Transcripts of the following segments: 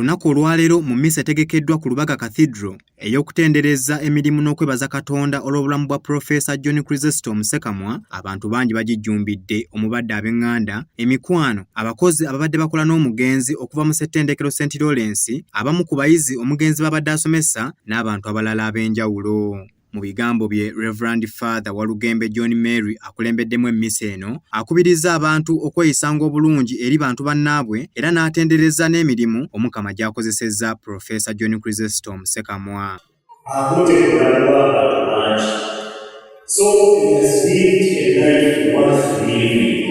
Olunaku olwaleero mu mmisa etegekeddwa ku Lubaga Cathedral ey'okutendereza emirimu n'okwebaza Katonda olw'obulamu bwa Profesa John Chrysostom Sekamwa, abantu bangi bagijjumbidde omubadde ab'eŋŋanda, emikwano, abakozi ababadde bakola n'omugenzi okuva mu Ssettendekero St Lawrence, abamu ku bayizi omugenzi baabadde asomesa n'abantu abalala ab'enjawulo. Mu bigambo bye Reverend Father Walugembe John Mary akulembeddemu emmisa eno akubirizza abantu okweyisanga obulungi eri bantu bannaabwe era n'atendereza n'emirimu Omukama gy'akozesezza Profesa John Chrysostom Sekamwa. So it has lived a life worth living.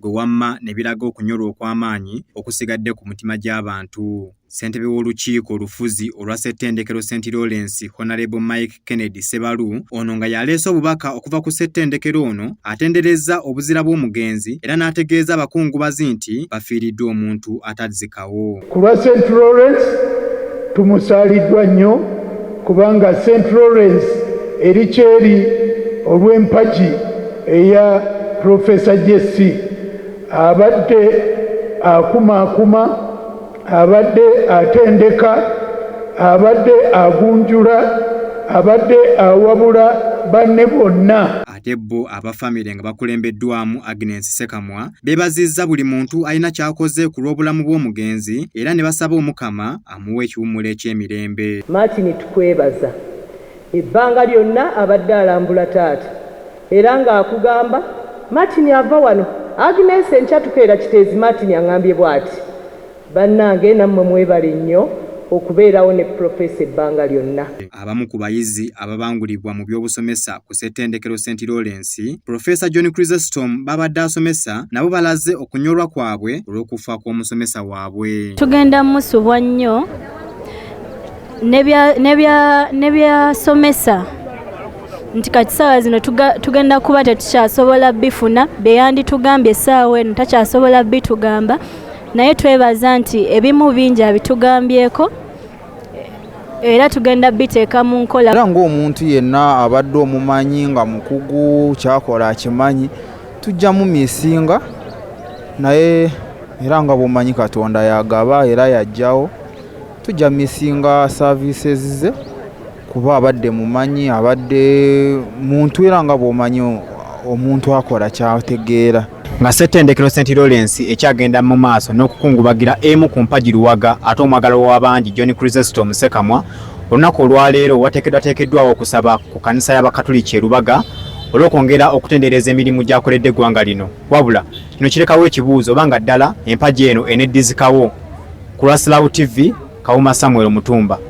gwe wamma ne biraga okunyolwa okw'amaanyi okusigadde ku mutima gy'abantu. Ssentebe w'olukiiko olufuzi olwa Ssettendekero St Lawrence Honalebo Mike Kennedy Ssebalu ono nga yaleese obubaka okuva ku Ssettendekero ono atenderezza obuzira bw'omugenzi era n'ategeeza abakungubazi nti bafiiriddwa omuntu atazika. awo. Ku lwa St Lawrence tumusaaliddwa nnyo kubanga St Lawrence eri kyeri olw'empagi eya Professor JC abadde akumaakuma, abadde atendeka, abadde agunjula, abadde awabula banne bonna. Ate bo aba famire nga bakulembeddwamu Agnes Sekamwa beebazizza buli muntu alina ky'akoze ku lw'obulamu bw'omugenzi era ne basaba Omukama amuwe ekiwummulo eky'emirembe. Martin tukwebaza ebbanga lyonna abadde alambula taata era ng'akugamba Martin ava wano, Agnes enkya tukeera Kiteezi Martin ang'ambye bwati. Bannange nammwe mwebale nnyo okubeerawo ne Professor ebbanga lyonna. Abamu ku bayizi ababangulibwa mu by'obusomesa ku Ssettendekero Saint Lawrence, Professor John Chrysestom b'abadde asomesa nabo balaze okunyolwa kwabwe olw'okufa kw'omusomesa waabwe. Tugenda musubwa nnyo ne by'asomesa nti kati ssaawa zino tugenda kuba tetukyasobola bifuna, bye yanditugambye essaawa eno takyasobola bitugamba. naye twebaza nti ebimu bingi abitugambyeko era tugenda biteeka mu nkola era ng'omuntu yenna abadde omumanyi nga mukugu kyakola akimanyi tujja mu misinga naye era nga bwomanyi katonda yagaba era yajjawo tujja misinga services ze kuba abadde mumanyi abadde muntu era nga bwomanyi omuntu akola kyategeera nga ssettendekero st lawrence ekyagenda mu maaso n'okukungubagira emu ku mpagi luwaga ate omwagala w'abangi john crisesto omusekamwa olunaku olwaleero wateekedwateekeddwawo okusaba ku kanisa y'abakatuliki erubaga olw'okwongera okutendereza emirimu gyakoledde eggwanga lino wabula kino kirekawo ekibuuzo oba nga ddala empagi eno eneddizikawo ku lwa slaw tv kawuma samuel mutumba